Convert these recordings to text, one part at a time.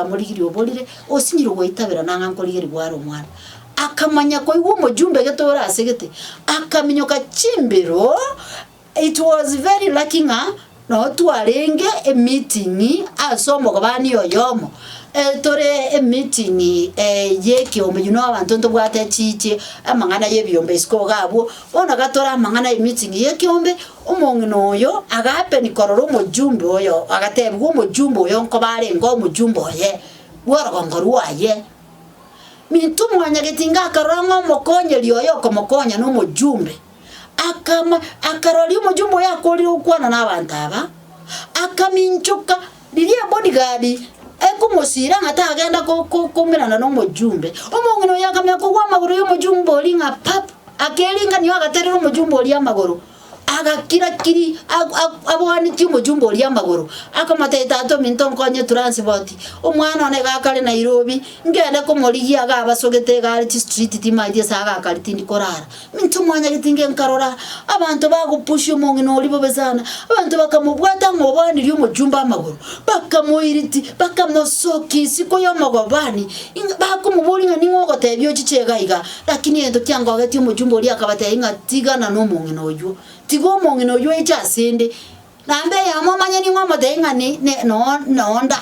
bamorigirie oborire, osinyirwe goitabera nang'a nkorigeri gware omwana. Akamanya koigwa omojumbe gete ore ase gete, akaminyoka chimbero, it was very lucky ng'a noo twarenge emeeting ase omogobani oyomo, eh tore emeeting eh ya ekeombe you know abanto ntobwate chichie amang'ana ya ebiombe isiko iga abwo, bono gatore amang'ana emeeting ya ekeombe, Omong'ina oyo agapenwa korora omojumbe oyo, agatebigwa omojumbe oyo nkoba arenge omojumbe oye bw'orogongo rwaye. Minto mwanyagetinga akarora ng'a omokonyeri oye okomokonya nomojumbe, akama akaroria omojumbe oyo akoorire gokwana nabaanto aba, akaminchoka Riria ebodigadi ekomosiira ng'a tagenda ko- ko- koumerana nomochumbe, omong'ina oyo akamenya kogwa amagoro y'omochumbe oria ng'a pap, akeringanioo agaterera omochumbe oria amagoro, agakira kiri a- a- abwanetie omochumbe oria amagoro, akamotebia tata ominto nkonye transport, omwana one iga akare Nairobi, ngende komorigia iga abasogete iga are chistriti timanyeti ase agakari tindi korara. Inche omwanyageti inge nkarora abanto bagopusia omong'ina oria bobe sana, abanto bakamobwata ng'a obaanirie omochumba amagoro, bakamoiriti, bakamosokia isiko y'omogobani, ing'a bakomoboria ng'a ning'o ogotebia ochiche iga iga. Lakini egento kiangogetie omochumba oria akabatebia ng'a tigana nomong'ina oyio, tiga omong'ina oyio oeche asende, naende eyemo omanye ning'o omotebie ng'a ni ne noo noo nda.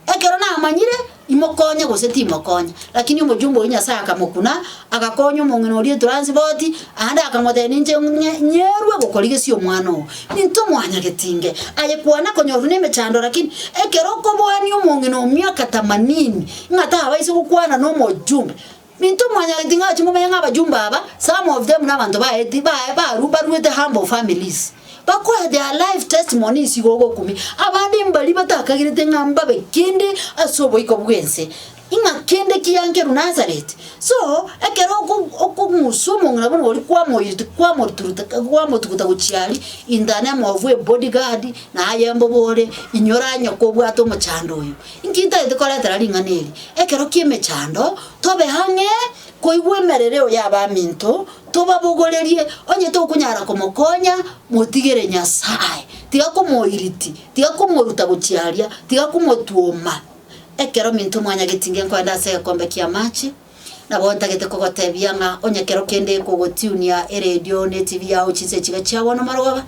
Ekero namanyire imokonye gose timokonye. Lakini omojumbe oyio Nyasae akamokuna, agakonya omong'ina oria etranspoti, aande akamotebia, Ninche ng'e nyerwe gokorigesia omwana oo. Intwe mwanyageti inge, aye kwana konyorwa nemechando lakini ekero okoboania omong'ina o miaka tamanini ng'a tabaise gokwana nomojumbe, Intwe mwanyagetiri ng'a ache mumenye ng'abajumbe aba, some of them nabanto baeti baye baru baruete humble families. Bakoe their life testimony isi igo ogokumi abande mbaria batakagirete ng'a mbabe kende ase oboiko bw'ense, ing'a kende kiankerwa Nazareth. So ekero oko okong'usa omong'ina buna oria kwamoirete kwamoturuta kwamotuguta gochia aria in the name of a body guard na aye mbobore inyora nyoka obwate omochando oyo. Inki ntagete koretera ring'ana eri ekero ki'emechando? Tobe ang'e koigwa emerereo y'abaminto, tobabogorerie. Onye tokonyara komokonya, motigere Nyasae. Tiga komoiriti, tiga komoruta gochia aria, tiga komotwoma. Ekero minto mwanyageti inge nkoende ase egekombe ki'amache, Nabo ntagete kogotebia ng'a onye kero kende ekogotunia eredio ne etibi yao chinse echiga chia bono marogoba,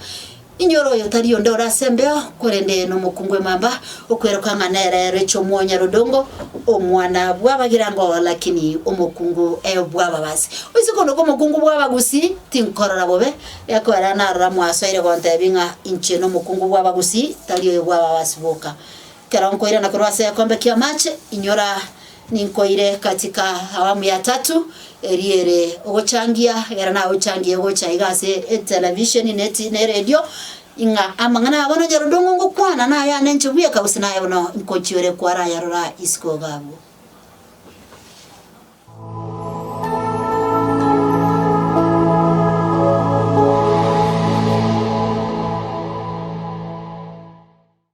inyora oyo tari onde ore ase embeo, korende nomokungu emamba, okweroka ng'a nere Rachel Omwonyarodongo, omwana bw'abagirango, lakini omokungu bw'ababasi. Oise korwa komokungu bw'abagusii, tinkorora bobe, gekoera narora mwasoire gontebi ng'a inche nomokungu bw'abagusii, tari oyo bw'ababasi boka. Ekero nkoirana korwa ase egekombe ki'amache, inyora ninkoire gati ka awamu ya tatu, eria ere ogochangia, egera nagochangirie gocha iga ase etelevisheni ne ti- ne eredio, ing'a amang'ana abo nonyore odong'u ngokwana nayane inche bweka gose naye bono nkochiore kwarayarora isiko iga abwo.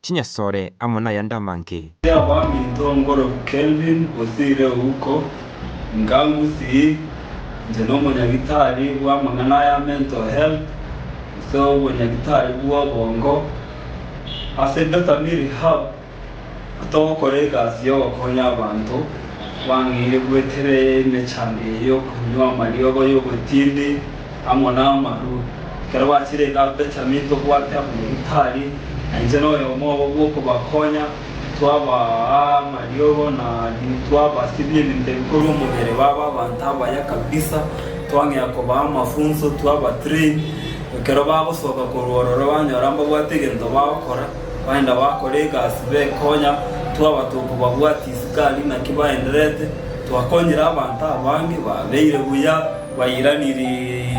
chinyasore amo nayande amanke. Ase abaminto Ongoro Kelvin Osire Ouko, Inga ngusii, inche nomonyagitari bw'amang'ana aya mental health gose obonyagitari bw'obongo ase Bethany Rehab atogokora egasi y'ogokonya abanto, twang'eire gweterera emechando eye y'okonywa amariogo y'obotindi. Amo namarue, ekero bachirenge Ababenjamini tobwate Abanefitali, na inche noyomo obo bw'okobakonya, twabaa amariogo na adini, twabasibia ebinto ebikorwa omobere babe abanto abaya kabisa, twang'ea kobaa amafunso, twabatrain. Ekero bagosoka korwa ororo banyora mbabwate egento bagokora, baenda bakora egasi bekonya, twabata okobabwatia isiko aria naki baenderete, twakonyire abanto abange babeire buya. Bairanerie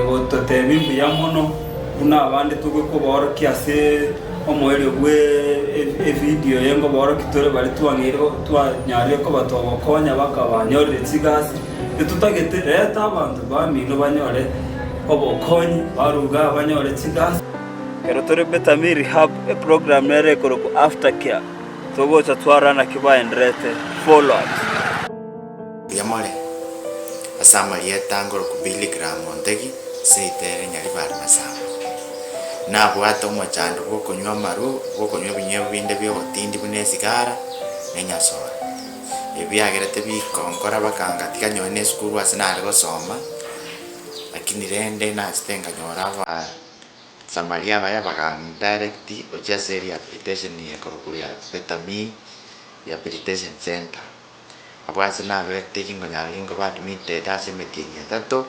gototeebia mbuya mono buna abande togwe kobaorokia ase omoerio bw'evidio eye, ngobaorokia tore bare twang'eire twanyarire kobatoa ogokonya bakabanyorere chigasi. Totagete, reta abanto bamino banyore obokonyi, baruga abanyore chigasi. Ekero tore Betami Rehab, eprogramu nere ekorokwa Aftercare, togocha twarora naki baenderete, follow-ups. Baria more ase amarieta ngorokwa Billy Graham Ontegi ase ritere nyaribare masaaba, nabwate omochando bw'okonywa amarwa, bw'okonywa ebinywibo binde bi'ogotindi buna esigara, na enyasora. Ebi biagerete bikonkora baka ngatiga nyore n'esukuru ase nare gosoma, lakini rende nachete nkanyora Abasamaria abaya bakandirect gochia ase rehabilitation ekorokwa Rehabilitation Centre. Abwo aase naberete ginkonyara ginkoba admitted ase emetinyi etato,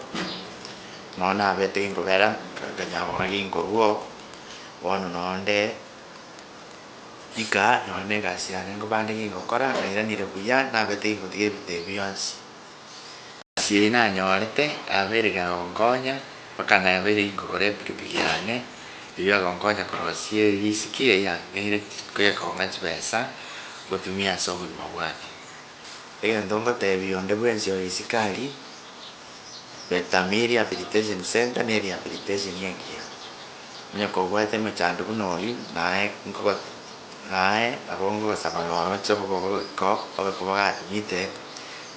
nonya naberete ginkobera nkaganya gokora ginkorwa oo, bono nonya onde rika nonya na egasi yane nkoba ande gingokora ng'airanire buya naberete ginkotiga ebinto ebi bionsi. Ase nanyorete abere gagonkonya, mpaka nabere igoro y'epikipiki yane, eyio agonkonya korosia erisiki eyio anteire gekong'a chibesa ngotumia ase obogima bwane. Egento ngoteebia onde bwensi oyo isiko aria, Betami Rehabilitation Centre ne rehabilitation engiya. Onye kobwate emechando buna oyio, naye nkogo naye abwo ngogosaba noroche obobe obogima obe koba gatumite.